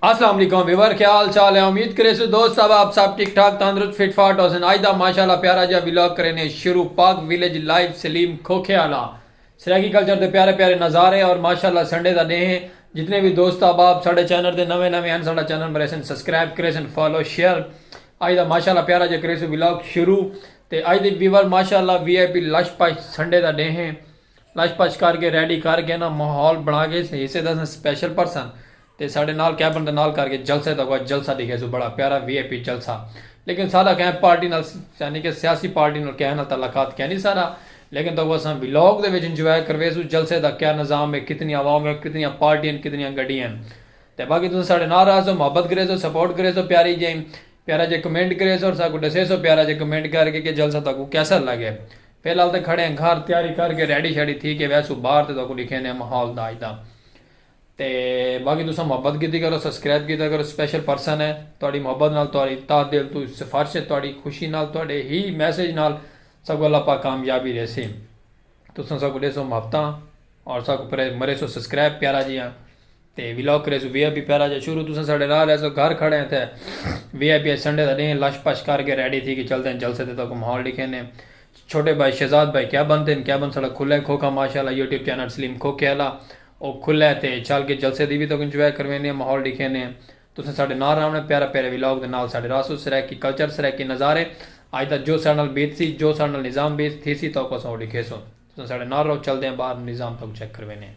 اسلام علیکم ویور کیا حال چال ہے امید کرے سو دوست صاحب آپ سب ٹھیک ٹھاک تندرست فٹ فاٹ ہوسن آج دا ماشاءاللہ پیارا جا ولاگ کرینے شروع پاک ویلیج لائیو سلیم کھوکھے آلا سرائیکی کلچر دے پیارے پیارے نظارے اور ماشاءاللہ سنڈے دا ڈے ہے جتنے بھی دوست احباب ساڈے چینل دے نویں نویں ہن ساڈا چینل مریسن سبسکرائب کریسن فالو شیئر آج دا ماشاءاللہ پیارا جا کریسو ولاگ شروع تے آج دے ویور ماشاءاللہ وی I P لش push Sunday the day ہے لش پش کر کے ریڈی کر کے نا ماحول بنا کے حصے دا اساں سپیشل پرسن تے ساڈے نال کیبن دے نال کر کے جلسے دا اگوا جلسہ ڈیکھے سو بڑا پیارا وی آئی پی جلسہ لیکن ساڈا کہیں پارٹی نال یعنی کہ سیاسی پارٹی نال کہیں نال تعلقات کینی ساڈا لیکن دا اگوا اساں ولاگ دے وچ انجوائے کروے سو جلسے دا کیا نظام ہے کتنی عوام ہے کتنیاں پارٹی ہیں کتنیاں گڈی ہیں تے باقی تساں ساڈے نال رہ سو محبت کرے سو سپورٹ کرے سو پیاری جی پیارا جے کمنٹ کرے سو اور ساکو ڈسے سو پیارا جے کمنٹ کر کے کہ جلسہ تاکو کیسا لگے فی الحال تاں کھڑے ہیں گھر تیاری کر کے ریڈی شیڈی تھی کے ویسوں باہر تے تہاکوں ڈکھیندے ہیں ماحول دا اج دا تے باقی تساں محبت کیتی کرو سبسکرائب کیتا کرو سپیشل پرسن ہیں تہاڈی محبت نال تہاڈی تہ دل توں سفارش ہے تہاڈی خوشی نال تہاڈے ہی میسج نال ساکوں اللہ پاک کامیابی ڈیسی تساں ساکوں ڈیسو محبتاں اور ساکوں مریسو سبسکرائب پیارا جیہاں۔ تے ولاگ کریسوں وی آئی پی پیرا جا شروع تساں ساڈے نال ریسو گھر کھڑے ہیں تے وی آئی پی اچ سنڈے دا ڈینھ لش پش کر کے ریڈی تھی کے چلدے ہیں جلسے تے تہاکوں ماحول ڈکھینے چھوٹے بھائی شہزاد بھائی کیا بنتے ہیں کیا بن ساڈا کھلے کھوکھا ماشاءاللہ یوٹیوب چینل سلیم کھوکھے آلا او کھلے تے چل کے جلسے دی وی تہاکوں انجوائے کروینے ہیں ماحول ڈکھینے تساں ساڈے نال راونے پیارے پیارے ولاگ دے نال ساڈے راسو سرائیکی کلچر سرائیکی نظارے اج دا جو ساڈے نال بیتسی جو ساڈے نال نظام بیت تھیسی تہاکوں اساں او ڈکھیسوں۔ تساں ساڑے نال رہو چلدے آں باہر نظام تہاکوں چیک کروینے آں۔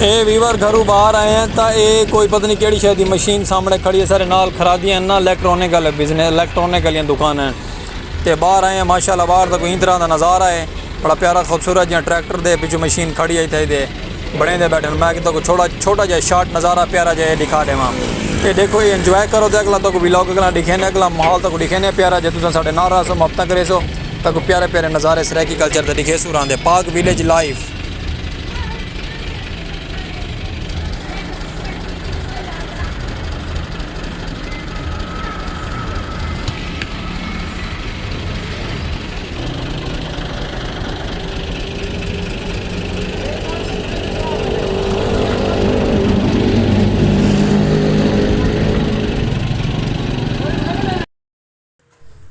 اے ویور گھروں باہر آئے آں تاں اے کوئی پتہ نی کیڑھی شے دی مشین سامنے کھڑی ہے ساڑے نال خرادیاں ہن ناں لیکٹرونک آلے بزنس لیکٹرونک آلیاں دکاناں ہن تے باہر آئے آں ماشاءاللہ باہر دا کوئی ایں طرح دا نظارہ ہے بڑا پیارا خوبصورت جیہاں ٹریکٹر دے پچھوں مشین کھڑی ہے اتھے دے بنڑیندے بیٹھے ہن میں تہاکوں چھوڑا چھوٹا جیہا شارٹ نظارہ پیارا جیہا اے ڈکھا ڈیواں اے ڈیکھو اے انجوائے کرو تے اگلا تہاکوں ولاگ اگلا ڈکھینے اگلا ماحول تہاکوں ڈکھینے پیارا جے تساں ساڑے نال رہسو محبتاں کریسو۔ تاکوں پیارے پیارے نظارے سرائیکی کلچر دے ڈکھیسوں راندے پاک ویلیج لائیف۔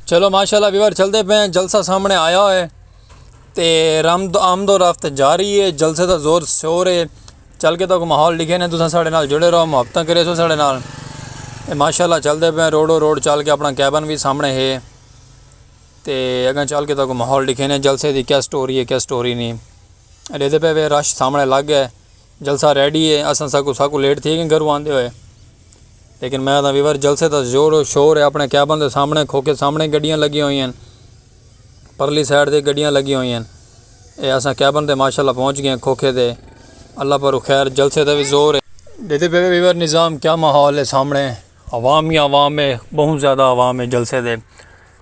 چلو ماشاءاللہ ویور چلتے پہ ہیں جلسہ سامنے آیا ہوئے تے رمد آمد و رفت جاری ہے جلسے دا زور سور ہے چل کے تک ماحول لکھے نے تساں ساڑھے نال جڑے رہو محبتاں کرے سو ساڑھے نال تے ماشاءاللہ چلتے پہ ہیں روڈو روڈ چل کے اپنا کیبن بھی سامنے ہے تے اگاں چل کے تک ماحول لکھے نے جلسے دی کیا سٹوری ہے کیا سٹوری نہیں لیتے پہ وے رش سامنے لگ ہے جلسہ ریڈی ہے اساں ساکوں ساکوں لیٹ تھی گئیں گھروں آندے ہوئے لیکن میں آدھاں ویور جلسے دا زور و شور ہے اپنے کیبن دے سامنے کھوکے سامنے گڈیاں لگیاں ہوئی ہیں پرلی سائیڈ دے گڈیاں لگیاں ہوئی ہیں اے اساں کیبن دے ماشاءاللہ پہنچ گئیں کھوکے دے اللہ پر خیر جلسے دا بھی زور ہے دیدے پہ ویور نظام کیا محول ہے سامنے عوام ہی عوام ہے بہت زیادہ عوام ہے جلسے دے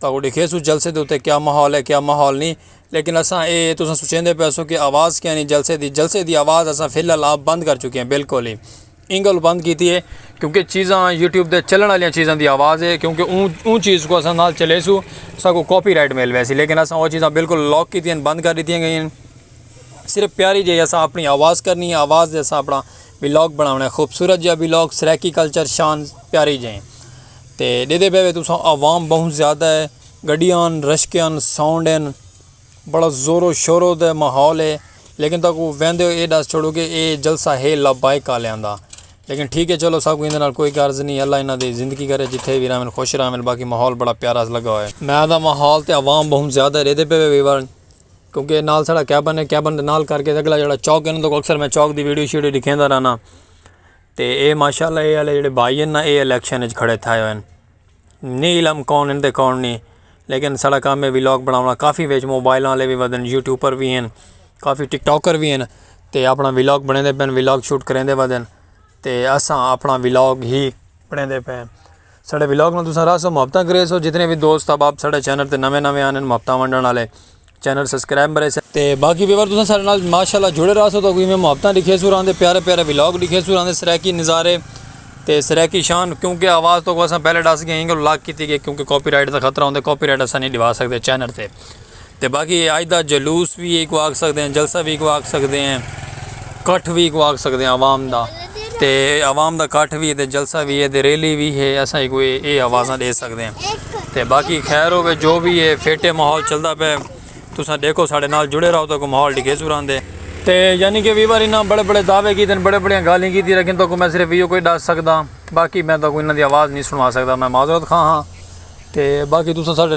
تہاکوں ڈیکھیسوں جلسے دے اتے کیا ماحول ہے کیا ماحول نی لیکن اساں اے تساں سوچیندے پیسوں کہ آواز کیا نی جلسے دی جلسے دی آواز اساں فی الحال آپ بند کر چکے ہیں بالکل ہی ایں گل بند کیتی ہے کیونکہ چیزاں یوٹیوب دے چلن والیاں چیزاں دی آواز ہے کیونکہ اوں اوں چیز کو اساں نال چلیسوں ساکوں کاپی رائٹ مل ویسی لیکن اساں او چیزاں بالکل لاک کیتی ہیں بند کر ڈتیاں گئیاں صرف پیاری جی اساں اپنی آواز کرنی ہے آواز دے اساں اپنا ولاگ بناونا ہے خوبصورت جیہا ولاگ سرائیکی کلچر شان پیاری جی تے ڈیدے پے وے تساں عوام بہوں زیادہ ہے گڈیاں ہن رشکے ہن ساؤنڈ ہن بڑا زور و شور و دے ماحول ہے لیکن تاں کو ویندے ہو اے ڈس چھوڑو کہ اے جلسہ ہے لبیک آلیاں دا لیکن ٹھیک ہے چلو ساکوں ایندے نال کوئی غرض نہیں اللہ انہاں دی زندگی کرے جتھے وی رہون خوش رہون باقی ماحول بڑا پیارا لگا ہویا ہے۔ میں دا ماحول تے عوام بہوں زیادہ ہے ڈیدے پے وے ویور کیونکہ نال ساڑا کیبن ہے کیبن دے نال کر کے اگلا جڑا چوک ہے نا تو اکثر میں چوک دی ویڈیو شیڈیو ڈکھیندا رہنا۔ تے اے ماشاءاللہ اے آلے جیڑھے بھائی ہن نا اے الیکشن اچ کھڑے تھائے ہوئے ہن نی علم کون ہن تے کون نی لیکن ساڑا کام ہے ولاگ بناونا کافی وچ موبائلاں آلے وی ودھن یوٹیوبر وی ہن کافی ٹک ٹاکر وی ہن تے اپنا ولاگ بنیندے پئے ہن ولاگ شوٹ کریندے ودھن تے اساں اپنا ولاگ ہی بنیندے پئے ہن ساڑے ولاگ نال تساں راہسو محبتاں کریسو جتنے وی دوست احباب ساڑے چینل تے نوے نوے آنے محبتاں ونڈن آلے چینل سبسکرائب مرے سے تے باقی ویور تساں سارے نال ماشاءاللہ جڑے رہسو تو کوئی میں محبتاں لکھے سو راندے پیارے پیارے ولاگ لکھے سو راندے سرائیکی نظارے تے سرائیکی شان کیونکہ آواز تو اساں پہلے ڈس گئے انگل لاک کیتی گئے کیونکہ کاپی رائٹ دا خطرہ ہوندے کاپی رائٹ اساں نہیں ڈیوا سکتے چینل تے تے باقی آج دا جلوس بھی ایک واگ سکتے ہیں جلسہ بھی ایک واگ سکتے ہیں کٹھ وی ایکوں آکھ سکدے آں عوام دا تے عوام دا کٹھ وی ہے تے جلسہ وی ہے تے ریلی وی ہے اساں ایکوں اے آوازاں ڈے سکدے آں تے باقی خیر ہووے جو وی ہے فٹ ہے ماحول چلدا پئے تساں ڈیکھو ساڈے نال جڑے راہو تہاکوں ماحول ڈکھیسوں راہندے۔ تے یعنی کہ وی وار انہاں بڑے بڑے دعوے کیتے ہن بڑے بڑیاں گالھیں کیتی لیکن تہاکوں میں صرف ایہو کچھ ڈس سکداں باقی میں تہاکوں انہاں دی آواز نی سنوا سکدا میں معذرت خواہ ہاں تے باقی تساں ساڈے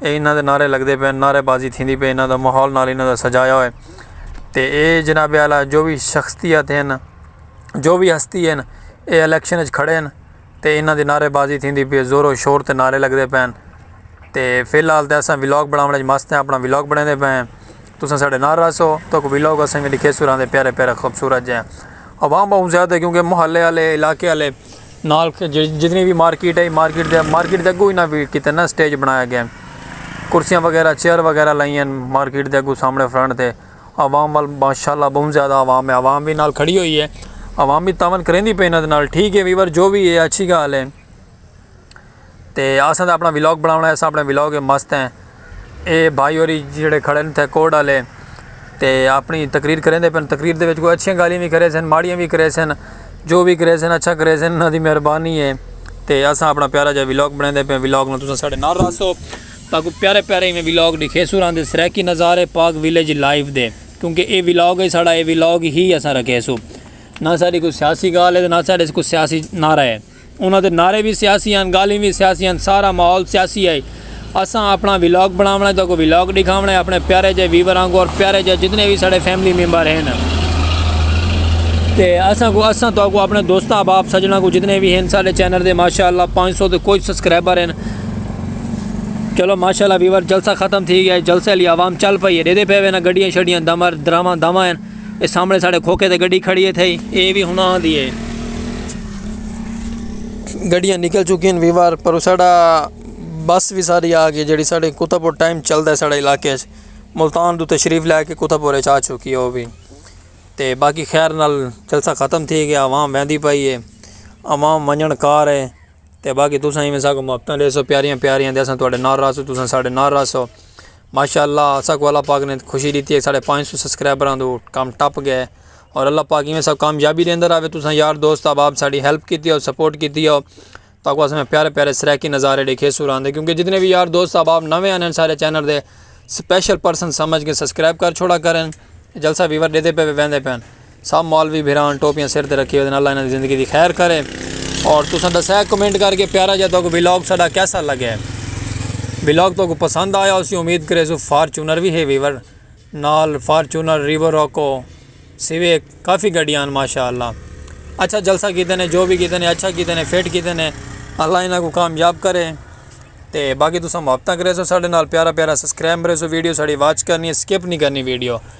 اے انہاں دے نعرے لگدے پئے ہن نعرے بازی تھیندی پئی انہاں دا ماحول نال انہاں دا سجایا ہوئے تے اے جناب اعلیٰ جو وی شخصیت ہن جو وی ہستی ہن اے الیکشن اچ کھڑے ہن تے انہاں دی نعرے بازی تھیندی پئی ہے زور و شور تے نعرے لگدے پئے ہن تے فی الحال تے اساں ولاگ بناوݨ اچ مست ہیں اپنا ولاگ بݨیندے پئے ہیں تساں ساڈے نال رہسو تہاکوں ولاگ اساں وی ݙکھیسوں رہندے پیارے پیارے خوبصورت جیہاں عوام بہوں زیادہ ہے کیونکہ محلے آلے علاقے آلے نال جتنی بھی مارکیٹ ہے مارکیٹ دے مارکیٹ دے اگوں انہاں بھی کیتے نا سٹیج بنایا گیا کرسیاں وغیرہ چیئر وغیرہ لائیں ہیں مارکیٹ دے اگوں سامنے فرنٹ دے عوام وال ماشاء اللہ بہوں زیادہ عوام ہے عوام بھی نال کھڑی ہوئی ہے عوام بھی تعاون کریں دی پینت نال ٹھیک ہے ویور جو بھی ہے اچھی گال ہے تے آساں تاں اپنا ولاگ بناونا ہے اساں اپنے ولاگ اچ مست ہیں اے بھائی ہوری جیڑھے کھڑے ہن تھے کوٹ آلے تے اپنی تقریر کریندے پن تقریر دے وچ کوئی اچھیاں گالیاں وی کریسن ماڑیاں وی کریسن جو وی کریسن اچھا کریسن انہاں دی مہربانی ہے تے اساں اپنا پیارا جا ولاگ بنیندے پن ولاگ نال تساں ساڈے نال رہسو تاکو پیارے پیارے ایویں ولاگ ڈکھیسو راں دے سرائیکی نظارے پاک ولیج لائف دے کیونکہ اے ولاگ ہے ساڈا اے ولاگ ہی اساں رکھیسو نہ ساڈی کوئی سیاسی گال ہے تے نہ ساڈے کوئی سیاسی نعرہ ہے۔ انہاں دے نعرے وی سیاسی ہن، گالھیں وی سیاسی ہن، سارا ماحول سیاسی ہئی۔ اساں اپݨا ولاگ بݨاوݨا ہے، تہاکوں ولاگ ݙکھاوݨا ہے، اپݨے پیارے جئے ویور آنگوں اور پیارے جئے جتنے وی ساݙے فیملی ممبر ہن تے اساں کوں اساں تہاکوں اپݨے دوستاں احباب سجݨاں کوں جتنے وی ہن ساݙے چینل دے ماشاءاللہ پانچ سو تے کچھ سبسکرائبر ہن۔ چلو ماشاءاللہ ویور جلسہ ختم تھی ڳیا ہے، جلسے آلی عوام چل پئی ہے، ݙیہدے پئے وینا گݙیاں شݙیاں دمر دراواں داواں ہن۔ اے سامنے ساڑے کھوکے تے گڈی کھڑی ہے تھے اے وی ہنا ہاں دی ہے گڈیاں نکل چکی ہیں ویوار پر ساڑا بس وی ساری آ گئی جیڑی ساڑے کتا پور ٹائم چل دا ہے ساڑے علاقے اچھ ملتان دو تشریف لے کے کتا پور اچھ آ چکی ہے او وی تے باقی خیر نال جلسہ ختم تھی گیا عوام ویندی پائی ہے عوام منجن کار ہے تے باقی تساں ہی میں ساکو مبتن رہے سو پیاریاں پیاریاں دے ساں توڑے نار رہا سو تساں ساڑے نار رہا سو ماشاءاللہ اساں کو اللہ پاک نے خوشی ڈیتی ہے ساڑے پانچ سو سبسکرائبراں دو کم ٹپ گئے اور اللہ پاک ایویں ساکو کامیابی دیندا راوے تساں یار دوست احباب ساڑی ہیلپ کیتی ہے سپورٹ کیتی ہے تاکو اساں میں پیارے پیارے سرائیکی نظارے ڈیکھے سوراں دے کیونکہ جتنے بھی یار دوست احباب نویں آنے ہیں سارے چینل دے سپیشل پرسن سمجھ کے سبسکرائب کر چھوڑا کریں جلسہ ویور ڈیتے پے ویندے پے سب مولوی بھران ٹوپیاں سر تے رکھی ودن اللہ انہاں دی زندگی دی خیر کرے اور تساں دسا ہے کمنٹ کر کے پیارا جا تہاکوں ولاگ ساڈا کیسا لگا ہے ولاگ تہاکوں پسند آیا ہوسی امید کریسوں فارچونر وی ہے ویور نال فارچونر ریور روکو سویک کافی گڈیاں ہن ماشاءاللہ اچھا جلسہ کیتے نے جو وی کیتے نے اچھا کیتے نے فٹ کیتے نے اللہ انہاں کو کامیاب کرے تے باقی تساں محبتاں کریسوں ساڈے نال پیارا پیارا سبسکرائب کریسوں ویڈیو ساڈی واچ کرنی ہے سکپ نہیں کرنی ویڈیو